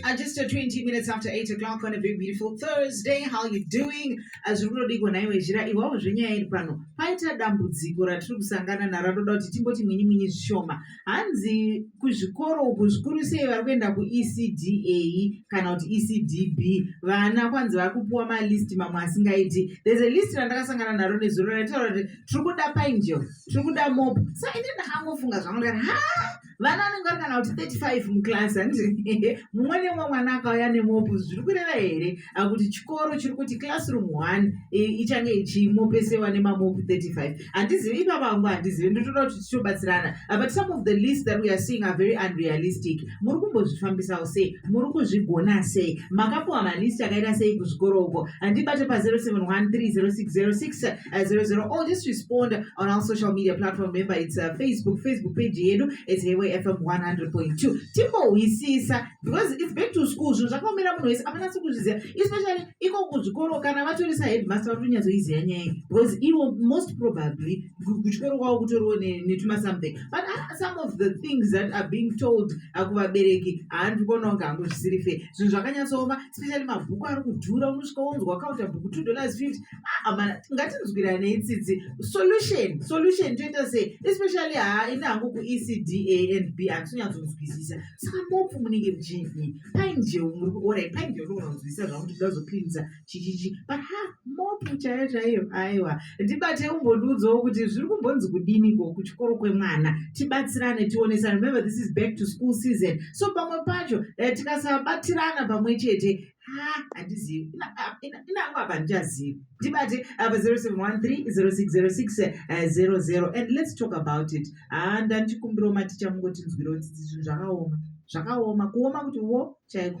Uh, just uh, 20 minutes after 8 o'clock on a very beautiful Thursday. How you doing? As we already go naiwe zhira iwawo zvenyaya iri pano paita dambudziko ratiri kusangana naro toda kuti timboti mwinyi mwinyi zvishoma hanzi kuzvikoro uku zvikuru sei vari kuenda kuecda kana kuti ecdb vana kwanzi vari kupiwa malist mamwe asingaiti there's a list randakasangana naro nezuro raitaura kuti tiri kuda painjel tiri kuda mop so inini ndakangofunga zvangu ndikati ha vana vanenge vari kana kuti 35 muclass hanzi mumwe nemumwe mwana akauya nemopu zviri kureva here akuti chikoro chiri kuti classroom one ichange ichimopesewa nemamopu 35 handizivi ipa vangu handizivi ndotoda kuti tichobatsirana but some of the list that weare seeing are very unrealistic muri kumbozvifambisawo sei muri kuzvigona sei makapuwa malist akaita sei kuzvikoro uko handibate pa 071 306 06 uh, 00 or just respond on our social media platform remember it's uh, facebook facebook page yedu it's highway fm 100.2 timbohwisisa because it's back to school zvinhu zvakaomera munhu wese apanasi kuzviziva especially iko kuzvikoro kana vatorisa headmaster vari kunyatsoiziva nyaya because ivo most probably kuchikoro kwavo kutoriwo netuma something but uh, some of the things that are being told uh, kuvabereki haandi kuona kunge hangu zvisiri fe zvinhu zvakanyatsooma especially mabhuku ari kudhura unosvika wonzwa wakaunza bhuku two dollars fifty amana ngatinzwiranei tsitsi solution solution toita sei especially haa ini hangu kuecda and b handisonyatsonzwisisa saka mopfu munenge muchii paini jeu muri kuorai paini jeu ndogona kunzwisisa zvakuti ndazopinza chichichi but ha mopfu chaiyo chaiyo aiwa ndibate umbondiudzawo kuti zviri kumbonzi kudiniko kuchikoro kwemwana tibatsirane tionesane remember this is back to school season so pamwe pacho eh, tikasabatirana pamwe chete handizivi inangu apa handichazivi ndibate apa 0713060600 and let's talk about it haa ndandichikumbirawo maticha mungotinzwirawo tsitsi zvinhu zvakaoma zvakaoma kuoma kuti wo chaiko